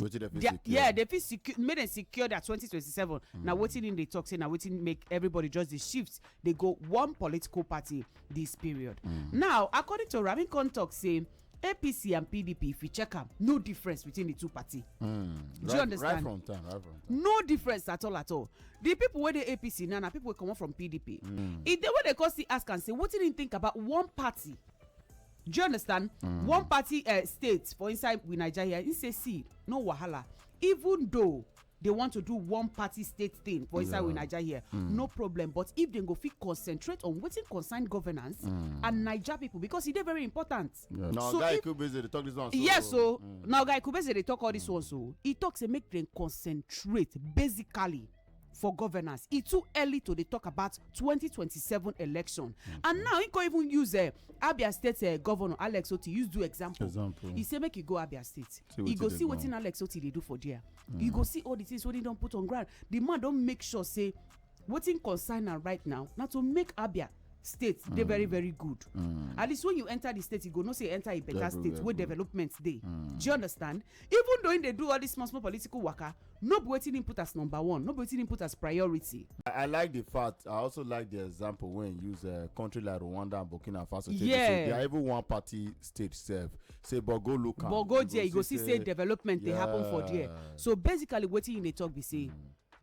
wetin dem fit secure yeah dem fit secure make dem secure their 2027 mm. na wetin im dey talk say na wetin make everybody just dey shift dey go one political party this period mm. now according to ramin khan talk say apc and pdp if you check am no difference between the two party mm, do right, you understand right from time, right from time. no difference at all at all the people wey dey apc now na people wey comot from pdp mm. e dey wey dey come still ask am say wetin im think about one party do you understand mm. one party uh, state for inside we naija here he say see no wahala even though they want to do one party state thing for inside we naija here mm. no problem but if dem go fit concentrate on wetin concern governance mm. and naija people because e dey very important na oga ikubeze dey talk this one so yes o na oga ikubeze dey talk all this one so e talk say make dem concentrate basically for governance e too early to dey talk about 2027 election and now he go even use eh, abia state eh, governor alex oti use do example He say make e go abia state e go see wetin alex oti dey do for there You go see all the things wey he don put on ground The man don make sure say wetin concern am right now na to make abia state dey very very good at least when you enter the state you go know say you enter a better state wey development dey do you understand Even though im dey do all dis small small political waka, no be wetin im put as number one, no be wetin im put as priority. I like di fact, I also like di example wey im use eh, country like Rwanda and Burkina Faso take dey Yeah. say they are even one party state sef. Say but go look am. But go there, you go see say development dey happen for there. Yeah. So basically wetin im dey talk be say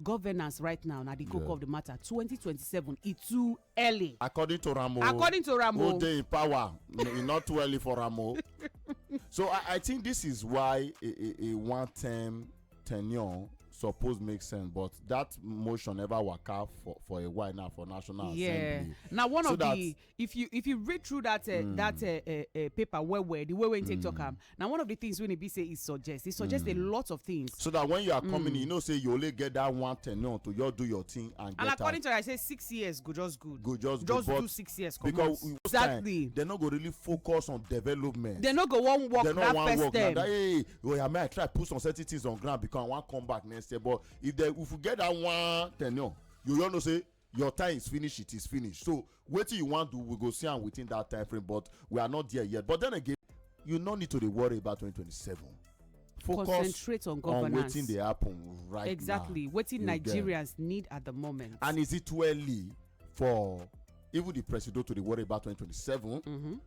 governance right now na di koko Yeah. of di matter. 2027 e too early according to ramo according to ramo who dey in power e not too early for ramo so i i think this is why a a a one term tenure suppose make sense but that motion never waka for for a while now for national yeah. assembly. yeah na one so of the if you if you read through that uh, mm. that uh, uh, uh, paper well well the way wey take mm. talk am na one of the things wey e be say e suggest e suggest a mm. lot of things. so that when you are coming in you mm. know say you only get that one tenure to just do your thing and get out. and according to her i say six years go just good. go just good just do six years comot because exactly they no go really focus on development. they no go wan work that first term. they no wan work na that hey oya may i try put some certain things on ground because i wan come back next year but if they if we get that one tenure you all know say your time is finish it is finish so wetin you wan do we go see am within that time frame but we are not there yet but then again you no need to dey worry about 2027 focus concentrate on governance on wetin dey happen right exactly. now exactly wetin nigerians need at the moment and is it too early for even the president to dey worry about 2027 mm-hmm.